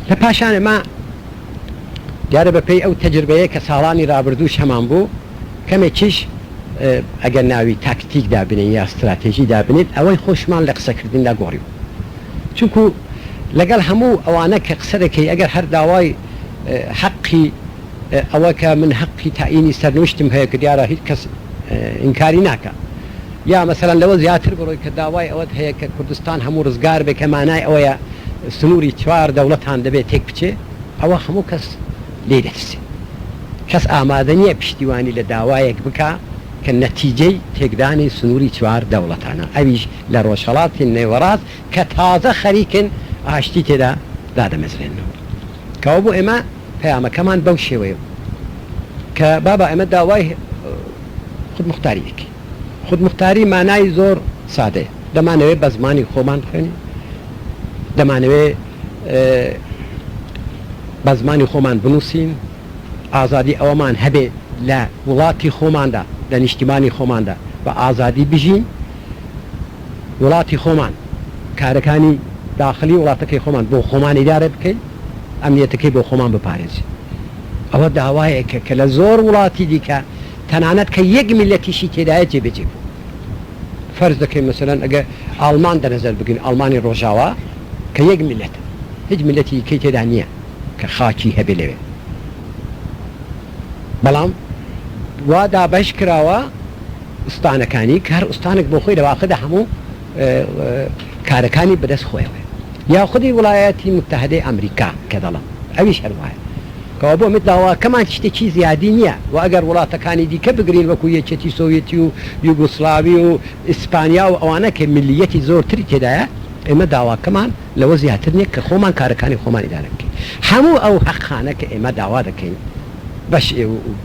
لە پاشان ئەمە دیارە بەپێی ئەو تەجربەیە کە ساڵانی رابردووش هەمان بوو کەمێکیش ئەگەر ناوی تاکتیک دابنێین یا ستراتێژی دابنێین ئەوەی خۆشمان لە قسەکردندا گۆڕیوە چونکو لەگەڵ هەموو ئەوانە کە قسە دەکەی ئەگەر هەر داوای حەقی ئەوە کە من حەقی تاینی سەرنوشتم هەیە کە دیارە هیچ کەس ئینکاری ناکا. یا مەسەلەن لەوە زیاتر بڕۆی کە داوای ئەوەت هەیە کە کوردستان هەموو ڕزگار بێ کە مانای ئەوەیە سنووری چوار دەوڵەتان دەبێ تێک بچێ ئەوە هەموو کەس لێی دەترسێ کەس ئامادە نییە پشتیوانی لە داوایەک بکا کە نەتیجەی تێکدانی سنووری چوار دەوڵەتانە ئەویش لە ڕۆژهەڵاتی نێوەڕاست کە تازە خەریکن ئاشتی تێدا دادەمەزرێننەوە کەوابوو ئێمە پەیامەکەمان بەو شێوەیە بوو کە بابا ئێمە داوای خودموختاری دەکەین. خودموختاری مانای زۆر سادەیە، دەمانەوێت بە زمانی خۆمان بخوێنین، دەمانەوێت بە زمانی خۆمان بنووسین، ئازادی ئەوەمان هەبێت لە وڵاتی خۆماندا، لە نیشتیمانی خۆماندا بە ئازادی بژین، وڵاتی خۆمان، کارەکانی داخلی وڵاتەکەی خۆمان بۆ خۆمان ئیدارە بکەین، ئەمنیەتەکەی بۆ خۆمان بپارێزین. ئەوە داوایەکە کە لە زۆر وڵاتی دیکە تەنانەت کە یەک میللەتیشی تێدایە جێبەجێ بووە. فەرز دەکەین مەسەلەن ئەگەر ئاڵمان دەنەزەر بگرین، ئاڵمانی ڕۆژاوا کە یەک میللەتە، هیچ میللەتی دیکەی تێدا نییە کە خاکی هەبێ لەوێ، بەڵام وا دابەش کراوە ئوستانەکانی کە هەر ئوستانێک بۆ خۆی لە واقعدا هەموو کارەکانی بەدەست خۆیەوەیە. یا خودی وڵایەتی موتەهەدەی ئامریکا کە دەڵێم ئەویش هەر وایە. کەوا بۆ مت داواکەمان تشتێکی زیادی نیە وە ئەگەر وڵاتەکانی دیکە بگرین وەکو یەکێتی سۆویەتی و یوگۆسلاوی و ئیسپانیا و ئەوانە کە ملیەتی زۆر تری تێدایە ئێمە داواکەمان لەوە زیاتر نیە کە خۆمان کارەکانی خۆمان ئیدارە بکەین هەموو ئەو هەقانە کە ئێمە داوا دەکەین بەش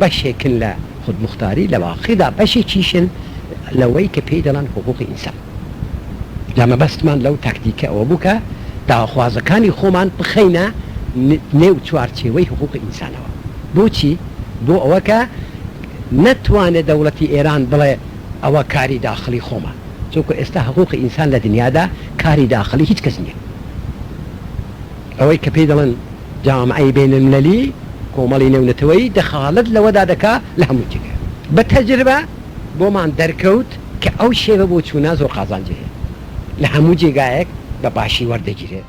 بەشێکن لە خودموختاری لە واقیدا بەشێکیشن لەوەی کە پێی دەڵێن حقوقی ئینسان. جا مەبەستمان لەو تاکتیکە ئەوە بوو کە داواخوازەکانی خۆمان بخەینە نێو چوارچێوەی حقووقی ئینسانەوە. بۆچی؟ بۆ ئەوە کە نەتوانێ دەوڵەتی ئێران بڵێ ئەوە کاری داخڵی خۆمە. چونکوو ئێستا حقووقی ئینسان لە دنیادا کاری داخڵی هیچ کەس نییە. ئەوەی کە پێی دەڵێن جامعەی بینلمللی، کۆمەڵی نێونەتەوەیی، دەخاڵەت لەوەدا دەکا لە هەموو جێگایەک. بە تەجربە. بۆمان دەرکەوت کە ئەو شێوە بۆ چوونە زۆر قازانجی هەیە، لە هەموو جێگایەک بە باشی وەردەگیرێت.